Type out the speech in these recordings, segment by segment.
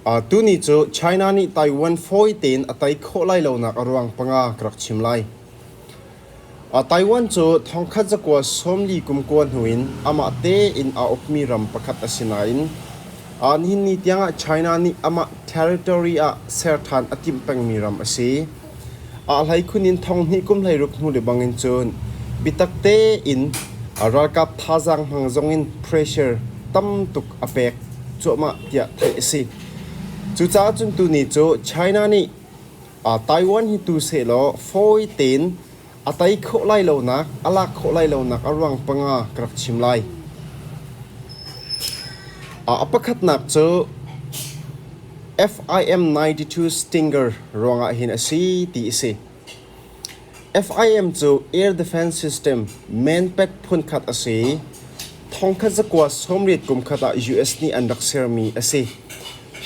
Tuni cu China nih Taiwan fawi tein a tei khawh lai lonak a ruang panga ka rak chim lai. Taiwan cu thongkhat zakua sawmli kumkua hnu in amah tein a ukmi ram pakhat a si nain nihin ni tiangah China nih amah territory ah ser ṭhan a timh pengmi ram a si. Ah hleikhun in thong hnih kum hleiruk hnu lebang in cun biatak tein ralkap thazaang hmang zongin pressure tam tuk a pek cuahmah tiah theih a si. Cucaah cun tuni cu China nih Taiwan hi tu sehlaw fawi tein A tei khawh lai lonak, a lak khawh lai lonak a ruang panga ka rak chim lai. A pakhatnak cu FIM92 Stinger ruangah hin a si ti a si. FIM cu air defense system manpet phunkhat a si i thongkhat zakua sawmriat kumkhat ah US nih an rak sermi a si.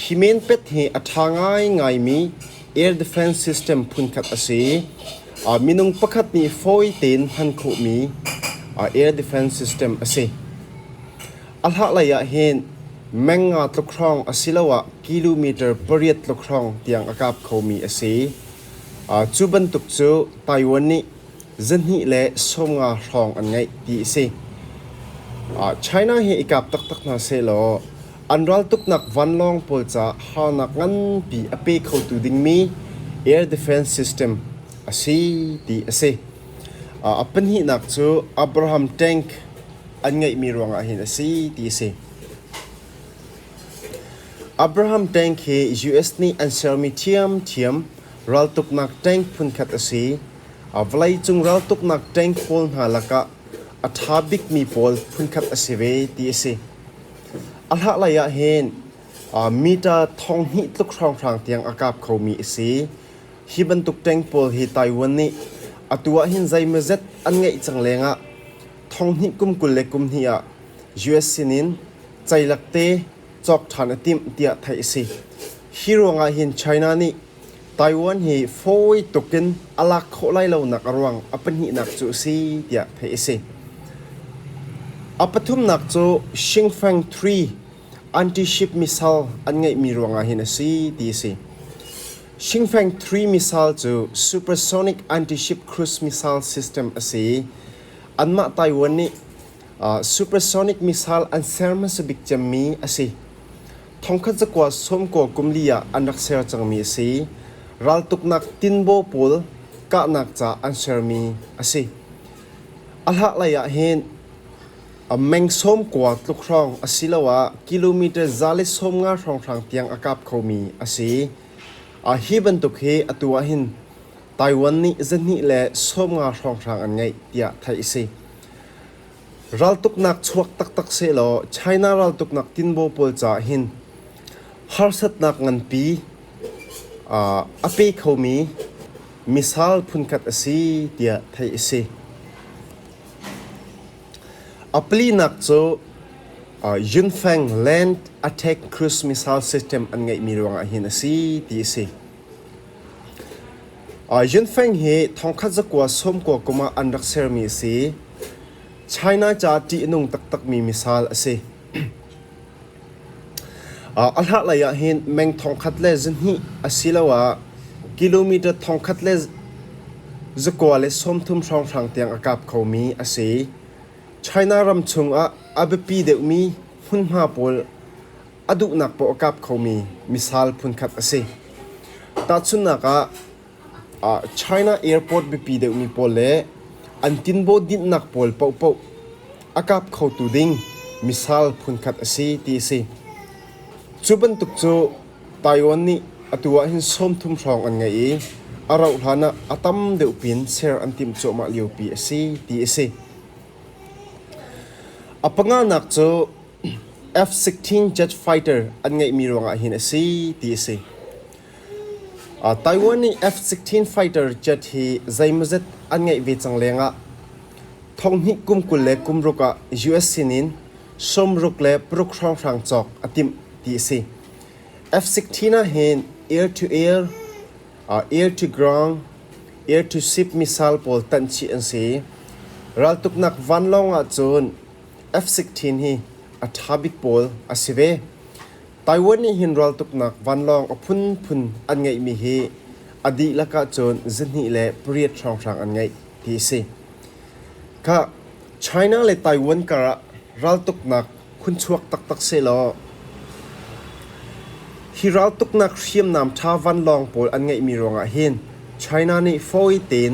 Hi manpet hi a ṭha ngaingaimi Air defense system phunkhat a si. Minung pakhat nih fawi tein hman khawhmi air defense system a si. A hlahlei ah hin meng nga tluk hrawng asiloah kilometer pariat tluk hrawng tiang a kap khomi a si. Cu bantuk cu Taiwan nih zahnih le sawmnga hrawng an ngeih ti a si. China hi i kap taktak hna sehlaw an raltuknak vanlawng pawl ca harnak nganpi a pe khotu dingmi air defense system a si ti a si. A pahnihnak cu Abraham tank an ngeihmi ruangah hin a si ti a si. Abraham tank hi US nih an sermi ṭhiamṭhiam raltuknak tank phunkhat a si. A vawleicung raltuknak ṭeng pawl hna lakah a ṭha bikmi pawl phunkhat a si ve ti a si. A hlahlei ah hin uh, meter thong hnih tluk hrawnghrang tiang a kap khomi a si. Hi bantuk ṭeng pawl hi Taiwan nih atu ah hin zeimawzet an ngeih cang lengah thong hnih kum kul le kum hnih ah US sinin ceilak te cawk ṭhan a timh tiah theih a si. Hi ruangah hin China nih Taiwan hi fawi tuk in a lak khawh lai lonak a ruang a pahnihnak cu a si tiah theih a si. A pathumnak cu Xinfang Three anti-ship missile an ngeihmi ruangah hin a si ti a si. Xinfang Three missile cu supersonic anti-ship cruise missile system a si i anmah Taiwan nih Supersonic missile an ser hmasa bik cemmi a si. Thongkhat cakuat sawmkaw kum li ah an rak ser cangmi a si. Raltuknak tinbaw pawl kahnak ca an sermi a si. A hlaklei ah hin meng sawmkua tluk hrawng asiloah kilometer za le sawmnga hrawnghrang tiang a kap khomi a si. Hi bantuk hi atu ah hin Taiwan nih zahnih le sawmnga hrawnghrang an ngeih tiah theih a si. Raltuknak chuak taktak sehlaw China raltuknak tinbaw pawl caah hin harsatnak nganpi a pe khomi missile phunkhat a si tiah theih a si. A palinak cu Yunfeng Land Attack Cruise Missile System an ngeihmi ruangah hin a si ti a si. Yuen Feng hi thongkhat zakua sawmkua kum ah an rak sermi a si. China ca ṭih a nung taktakmi misal a si. A hlarhlei ah hin meng thongkhat le zihnih asiloah kilometre thongkhat le zakua le sawmthum hrawnghrang tiang a kap khomi a si. China ram chung ah a biapi deuhmi hmunhma pawl a duhnak paoh a kap khomi misal phunkhat a si. Tahchunhnak ah, China airport biapi deuhmi pawl le an tinbaw dinhnak pawl paohpaoh a kap khotu ding misal phunkhat a si ti a si. Cu bantuk cu Taiwan nih atu ahhin sawmthum hrawng an ngei i a rauh hlan ah a tam deuh pin ser an timh cuahmah liopi a si ti a si. A panganak cu F-16 jet fighter an ngeihmi ruangah hin a si ti a si. Uh, Taiwan nih F-16 fighter jet hi zeimawzet an ngeih ve cang lengah thonghnih kum kul le kum ruk ah US sinin sawmruk le paruk hrawnghrang cawk a timh ti a si. F-16 ah hin air-to-air, uh, air-to-ground, air-to-ship missile pawl tanh chih an si. Raltuknak vanlawng ah cun Efsik thin hi a ṭha bik pawl a si ve. Taiwan nih hin raltuknak vanlawng a phunphun an ngeihmi hi a dihlak ahcun zihnih le pariat hrawnghrang an ngeih ti a si. Khah, China le Taiwan karah raltuknak khunchuak taktak sehlaw hi raltuknak hriamnam ṭha vanlawng pawl an ngeihmi ruangah hin China nih fawi tein